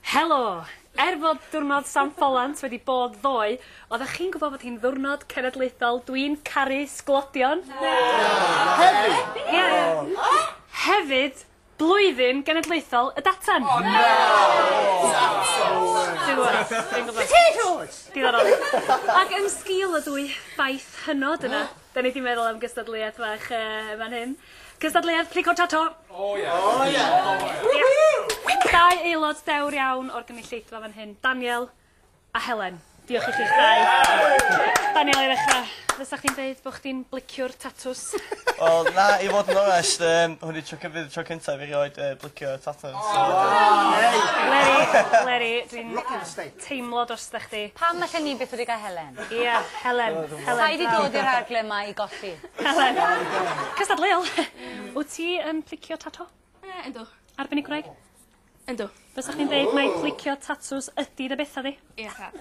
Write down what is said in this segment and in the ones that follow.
Helo! Er fod Diwrnod San Ffolant wedi bod ddoe, oeddech chi'n gwybod fod hi'n ddiwrnod cenedlaethol Dwi'n Caru Sglodion? Hefyd! Hefyd, Blwyddyn Genedlaethol y Datan! O na! Potatoes! Diddorol. Ac yn sgil y dwy baith hynod yna, Da ni di meddwl am gystadleuaeth fach yy fan hyn. Cystadleuaeth Plico Tato! O ie! O ie! Woohoo! Dau aelod dewr iawn o'r gynulleidfa fan hyn, Daniel a Helen. Diolch i chi'ch dau. Yeah! Daniel, i ddechra, fysa chdi'n deud bo' chdi'n bliciwr tatws? Wel, na, i fod yn onest, yym, hwn yw tro cyf- yy tro cynta i fi rioed yy blicio tatws. O! Yay! Leri, Leri, dwi'n... Rocking the state. teimlo drosta chdi. Pam alle ni byth wedi cael Helen? Ia, Helen. Helen. Sai 'di dod i'r rhagle 'ma i golli. Helen. Cystadleuol. Wt ti yn plicio tato? Yy yndw. Arbenigwraig? Yndw. Fysa chdi'n deud mai plicio tatŵs ydi dy betha di? Ia tad.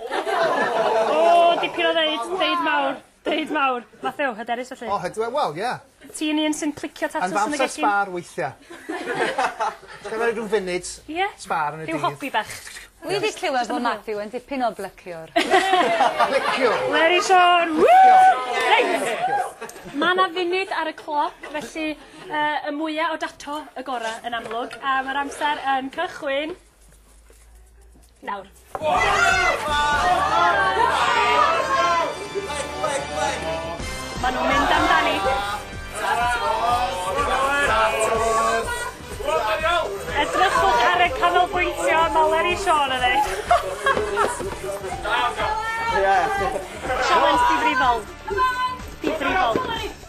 O! Dipyn o ddeud, deud mawr. Bryd mawr. Mathew, hyderus felly? O, ydw e, wel, ie. Ti'n un sy'n plicio tatws yn y gegin? Yn fy amser sbâr weithia. Ti'n cael rhyw funud sbâr yn y dydd? Rhyw hobi bach. Wi 'di clywed bod Mathew yn dipyn o blyciwr. Pliciwr! Leri Siôn! Reit! Mae yna funud ar y cloc, felly y mwyaf o dato y gorau yn amlwg, a mae'r amser yn cychwyn Nawr. Mae nhw'n mynd amdani. Edrychwch ar y canolbwyntio a maler i Siôn yn ei. Sialens difrifol. Difrifol.